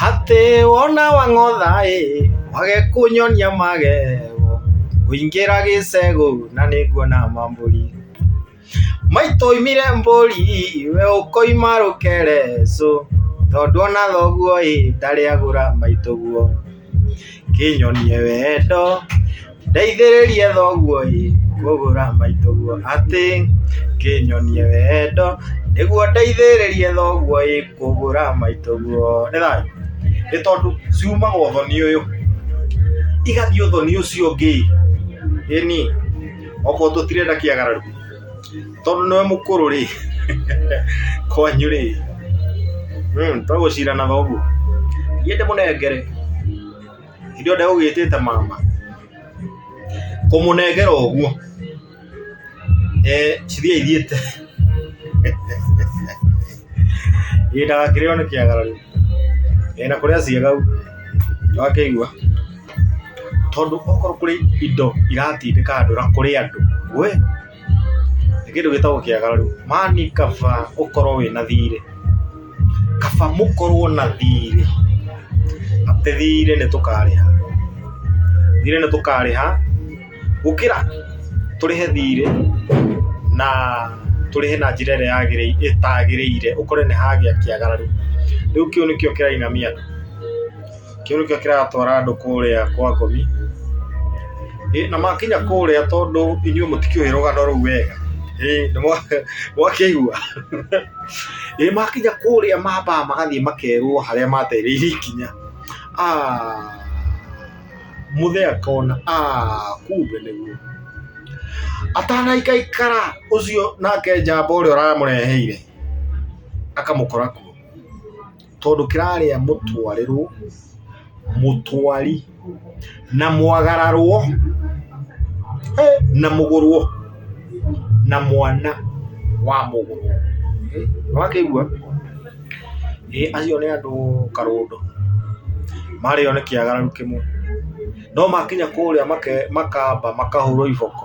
Atĩ wona wang'otha-ĩ, wage kũnyonia magego, ngũingĩra gĩcegũ na nĩnguona mambũri. Maitũ oimire mbũri, we ũkoima rũkere cũ, tondũ ona thoguo-ĩ, ndarĩ agũra maitũguo. Kĩnyonie wendo, ndeithĩrĩrie thoguo ĩ, ngũgũra maitũguo atĩ. Kĩnyonie wendo, nĩguo ndeithĩrĩrie thoguo ĩ, ngũgũra maitũguo. Nĩ thayũ? Nĩ tondũ ciumaga ũthoni ũyũ, igathiĩ ũthoni ũcio ũngĩ ĩ. Ĩni, okorwo tũtirenda kĩagararo. Tondũ nĩwe mũkũrũ rĩ, kwanyu rĩ, tũgũcirana thoguo? Thiĩ ndĩmũnengere. Hĩndĩ ĩyo ndegũgĩtĩte mama. Kũmũnengera ũguo. Ee, cithiĩ ithiĩte. Ĩĩ ndagakĩrĩo nĩ kĩagara rĩu. Ĩĩ na kũrĩa ciĩga ũguo. Nĩwakĩigua? Tondũ okorwo kũrĩ indo iratindĩka andũ na kũrĩ andũ we, nĩ kĩndũ gĩtagwo kĩagararu. Yaani kaba ũkorwo wĩna thiirĩ, kaba mũkorwo na thiirĩ, atĩ thiirĩ nĩ tũkarĩha, thiirĩ nĩ tũkarĩha, gũkĩra tũrĩhe thiirĩ na tũrĩhe na njĩra ĩrĩa yagĩrĩire, ĩtagĩrĩire, ũkore nĩ hagĩa kĩagararu. Rĩu kĩu nĩkĩo kĩrainamia andũ. kĩu nĩkĩo kĩratwara andũ kũrĩa kwa ngomi Ĩ, na makinya kũrĩa tondũ inyuĩ mũtikĩũĩ rũgano rũu wega Ĩ, nĩ mwa- mwakĩigua Ĩ, makinya kũrĩa mambaga magathiĩ makerwo harĩa matereire ikinya Ah, mũthee akona "Ah, kumbe nĩguo atanaikaikara ũcio nake njamba ũrĩa ũramũreheire akamũkora kuo tondũ kĩrarĩa mũtwarĩrwo mũtwari na mwagararwo eh, na mũgũrwo na mwana wa mũgũrwo wakĩigua eh, acio nĩ andũ karũndũ marĩo nĩ kĩagararu kĩmwe no makinya kũrĩa make- makamba makahũrwo iboko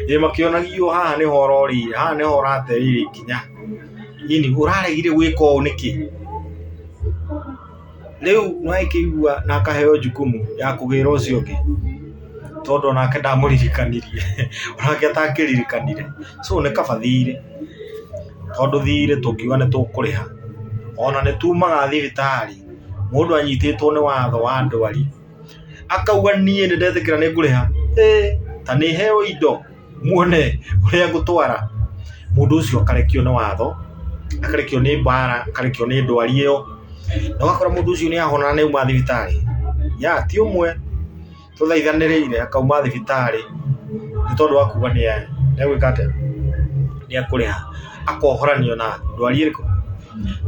ĩ makĩonagio haha nĩho ũrorĩire haha nĩho ũraterĩire ikinya ini ũraregire gwĩka ũũ nĩkĩ rĩu nĩwakĩigua na akaheo jukumu ya kũgĩra ũcio ũngĩ tondũ onake ndamũririkanirie onake atakĩririkanire so nĩ kaba thiirĩ tondũ thiirĩ tũngiuga nĩ tũkũrĩha ona nĩ tumaga thibitarĩ mũndũ anyitĩtwo nĩ watho wa ndwari. akauga niĩ nĩ ndetĩkĩra nĩ ngũrĩha ĩ ta nĩ heo indo muone ũrĩa ngũtwara mũndũ ũcio akarekio nĩ watho akarekio nĩ mbara akarekio nĩ ndwari ĩyo na ũgakora mũndũ ũcio nĩ ahona na nĩ auma thibitarĩ ya ti ũmwe tũthaithanĩrĩire akauma thibitarĩ nĩ tondũ wa kuga nĩ egwĩka atĩa nĩ ekũrĩha. akohoranio na ndwari ĩrĩkũ?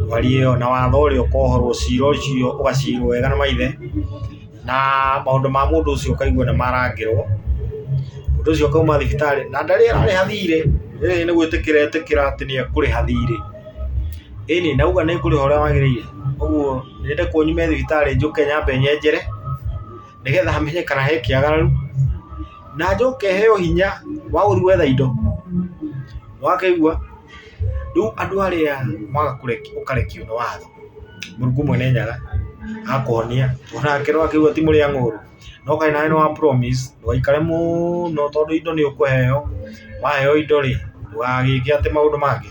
Ndwari ĩyo na watho ũrĩa ũkohorwo cira ũcio ũgacirwo wega nĩ maithe, na maũndũ ma mũndũ ũcio ũkaigwo nĩ marangĩrwo, mũndũ ũcio akauma thibitarĩ na ndarĩ ararĩha thiirĩ, ĩĩ nĩ gwĩtĩkĩra etĩkĩra atĩ nĩ ekũrĩha thiirĩ, ĩni na auga nĩ ekũrĩha ũrĩa wagĩrĩire, ũguo nyende kũu nyume thibitarĩ njũke nyambe nyenjere, nĩgetha menye kana he kĩagaru. na njoke heo hinya wa gũthiĩ gwetha indo. Nĩ wakaigua? Rĩu andũ arĩa maga kũrekio ũkarekio nĩ watho, Mũrungu Mwenenyaga akũhonia o nake nĩ wakaigua ti mũrĩa ng'ũũrũ. No kaĩ nawe nĩ wa promise ndũgaikare mũno tondũ indo nĩ ũkũheo, waheo indo rĩ, ndũgagĩke atĩ maũndũ mangĩ.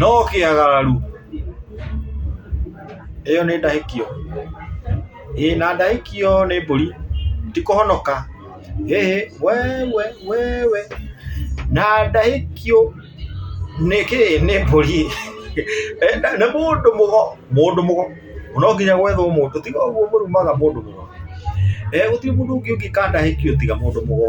Nokĩagararu. Ĩyo nĩ ndahĩkio. Ĩĩ na ndahĩkio nĩ mbũri. Ti kũhonoka. Hĩhĩ. Wewe. Wewe. Na ndahĩkio nĩ kĩĩ? Nĩ mbũri. Nĩ mũndũ mũgo. Mũndũ mũgo. No nginya gwethwo mũndũ. Tiga ũguo mũrumaga mũndũ mũgo. Gũtirĩ mũndũ ũngĩ ũngĩka ndahĩkio tiga mũndũ mũgo.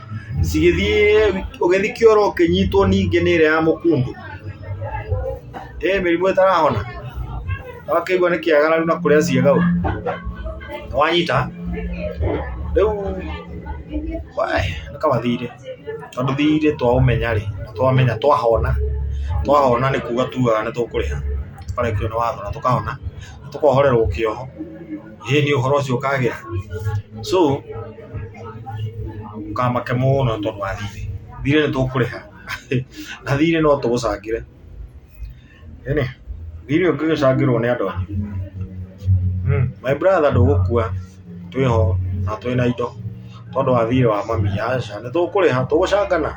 cigĩthiĩ ũgĩthiĩ kĩoro ũkĩnyitwo ningĩ nĩ ĩrĩa ya mũkundu ĩ mĩrimũ ĩtarahona wakĩigua nĩ kĩagararu na kũrĩa ciĩga ũru wanyita rĩu wae, nĩ kaba thirĩ tondũ thirĩ twaũmenya rĩ twamenya twahona twahona nĩ kuga tugaga nĩ tũkũrĩha tũkarĩhio nĩ watho na tũkahona tũkohorerwo kĩoho. ĩĩ nĩ ũhoro ũcio ũkagĩa so ndũkamake mũno tondũ wa thiirĩ, thiirĩ nĩ tũkũrĩha na thiirĩ no tũũcangĩre, ĩnĩ thiirĩ ũngĩgĩcangĩrwo nĩ andũ angĩ my brother ndũgũkua twĩ ho na twĩ na indo tondũ wa thiirĩ wa mami aca nĩ tũkũrĩha tũgũcangana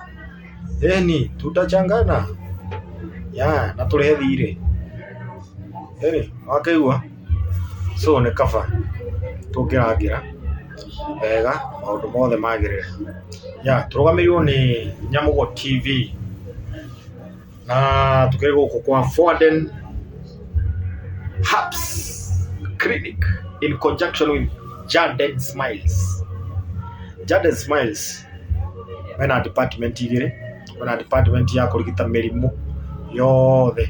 ĩni tutachangana yeah na tũrĩhe thiirĩ ĩnĩ nĩ wakĩigua. So nĩ kaba tũkĩrangĩra wega maũndũ mothe magĩrĩre. Ya, tũrũgamĩrĩirwo nĩ Nyamũgo TV na tũkĩrĩ gũkũ kwa Foden Herbs Clinic in conjunction with Jaden Smiles. Jaden Smiles mena department igĩrĩ, kwĩna department ya kũrigita mĩrimũ yothe.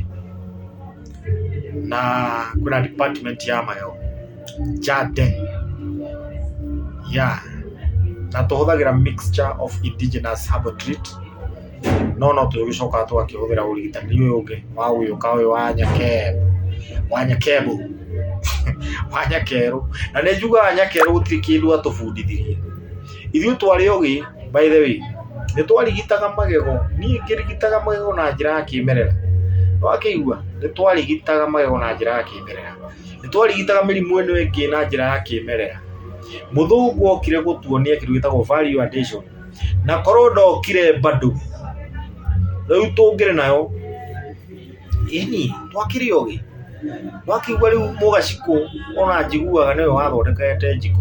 na kwĩna department ya mayo Jaden yeah. na tũhũthagĩra mixture of indigenous herbal treat no no tũgĩcokaga tũgakĩhũthĩra ũrigitani ũyũ ũngĩ wa gũgĩũka ũyũ wa nyakebu wa nyakebu wa nyakerũ na nĩ njugaga nyakerũ gũtirĩ kĩndũ atũbundithirie Ithuĩ twarĩ ogĩ, by the way, nĩ twarigitaga magego, niĩ ngĩrigitaga magego na njĩra ya kĩmerera, nĩ wakĩigua? Nĩ twarigitaga magego na njĩra ya kĩmerera. Nĩ twarigitaga mĩrimũ ĩno ĩngĩ na njĩra ya kĩmerera. Mũthũngũ okire gũtuonia kĩndũ gĩtagwo value addition, na korwo ndokire bado, rĩu tũngĩrĩ nayo, ĩni, twakĩrĩ ogĩ. Nĩ wakĩigua rĩu mũgacikũ o na njiguaga nĩwe wathondekete njiko.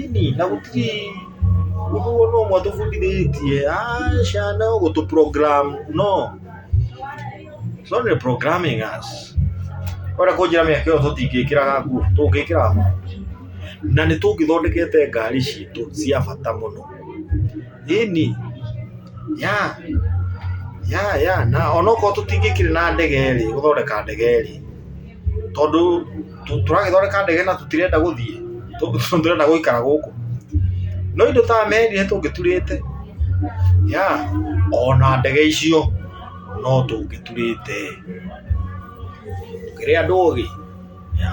ini na gũtirĩ ũndũ ona ũmwe atũbundithĩtie aca no gũtũ program no it's only programming us ore kũnjĩra mĩaka ĩyo tũtingĩkĩraga nguo tũngĩkĩraga nguo na nĩ tũngĩthondekete ngari citũ cia bata mũno ini ya ya ya na onokorwo tũtingĩkĩrĩ na ndege rĩ gũthondeka ndege rĩ tondũ tũ- tũragĩthondeka ndege na tũtirenda gũthiĩ tũ- tũ- tũrenda gũikara gũkũ no indo ta meri nĩ tũngĩturĩte ya ona ndege icio no tũngĩturĩte kĩrĩa andũ ũgĩ ya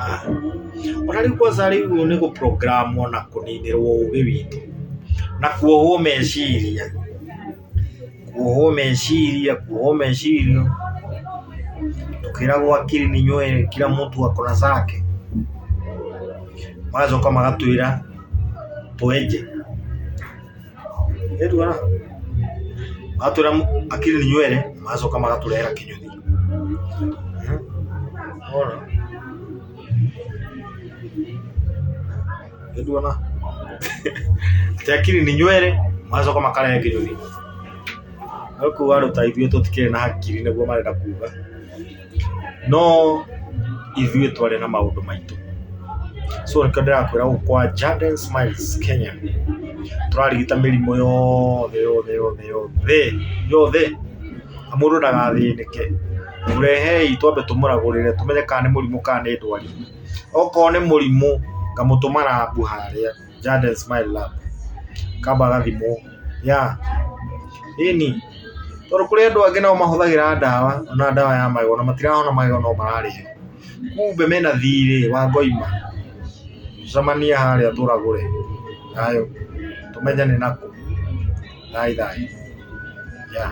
ona rĩu kwanza rĩu nĩ gũprogramu na kũninĩrwo ũgĩ witũ na kuohwo meciria Kũohwo meciria, kũohwo meciria, tũkĩragwo akiri ni nywele, kila mtu ako na zake. Magacoka magatwĩra twenje. Nĩ tuona? Magatwĩra akiri ni nywele, magacoka magatũrehera kĩnyũthi. Wona? Nĩnduona. Tekiri ni nywere macoka makarehe kĩnyoni. No kuga andũ ta ithuĩ tũtikĩrĩ na hakiri nĩguo marenda kuga. No ithuĩ twarĩ na maũndũ maitũ. So nĩkĩo ndĩrakwĩra gũkũ kwa Jaden Smiles Kenya tũrarigita mĩrimũ yothe yothe yothe yothe yothe na mũndũ ndagathĩnĩke. Mũrehei twambe tũmũragũrĩre tũmenye kana nĩ mũrimũ kana nĩ ndwari. okorwo nĩ mũrimũ ngamũtũma rabu harĩa Jaden Smile Lab akamba agathimwo, yeah ĩni, tondũ kũrĩ andũ angĩ nao mahũthagĩra ndawa ona ndawa ya magego ona matirahona magego no mararĩo, kumbe mena thirĩ wa ngoima, tũcemanie harĩa tũragũre, thayũ, tũmenyane na kũ, thayũ thayũ, yeah.